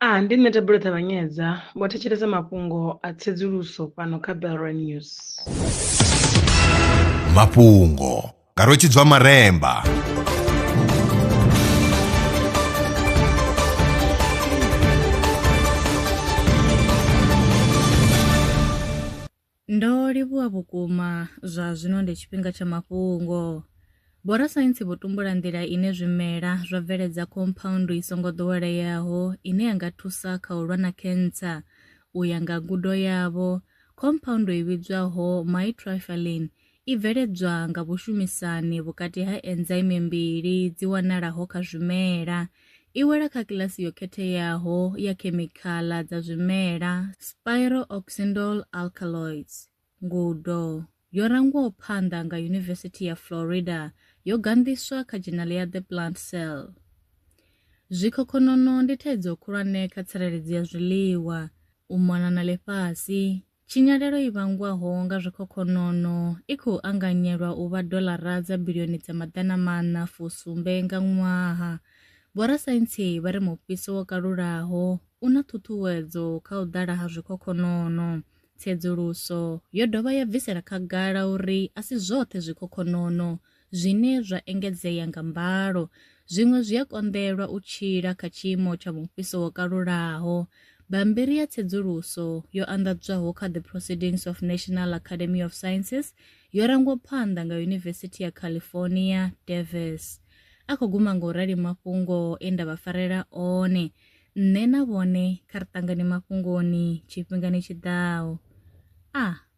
A Ndi nṋe Thabelo Ṱavhanyedza, vho thetshelesa mafhungo a tsedzuluso fhano kha Belrwa News. Mafhungo nga Rwetshidzwa Maremba. Ndo livhuwa vhukuma, zwa zwino ndi tshifhinga tsha mafhungo. Vhorasaintsi vho tumbula nḓila ine zwimela zwa bveledza khomphaundu i songo ḓoweleaho ine ya nga thusa kha u lwa na khentsa. U ya nga ngudo yavho, khomphaundu i vhidzwaho mytriphyline I bveledzwa nga vhushumisani vhukati ha enzaimi mbili dzi wanalaho kha zwimela. I wela kha kilasi yo khetheaho ya khemikhala dza zwimela, spirooxindole alkaloids. Ngudo yo rangwaho phanḓa nga Yunivesithi ya Florida yo ganḓiswa kha dzhenali ya The Plant Cell. Zwikhokhonono ndi thaidzo khulwane kha tsireledzo ya zwiḽiwa, u mona na ḽifhasi, Tshinyalelo i vhangwaho nga zwikhokhonono i khou anganyelwa u vha doḽara dza bilioni dza maḓana maṋa fu sumbe nga ṅwaha. Vhorasaintsi vha ri mufhiso wo kalulaho u na ṱhuṱhuwedzo kha u ḓala ha zwikhokhonono. Tsedzuluso yo dovha ya bvisela khagala uri a si zwoṱhe zwikhokhonono zwine zwa engedzea nga mbalo. Zwiṅwe zwi a konḓelwa u tshila kha tshiimo tsha mufhiso wo kalulaho. Bammbiri ya tsedzuluso yo anḓadzwaho kha The Proceedings of National Academy of Sciences yo rangwa phanḓa nga Yunivesithi ya California, Davis. A khou guma nga u rali mafhungo e nda vha farela one. Nṋe na vhone kha ri ṱangane mafhungoni tshifhingani tshi ḓaho. A.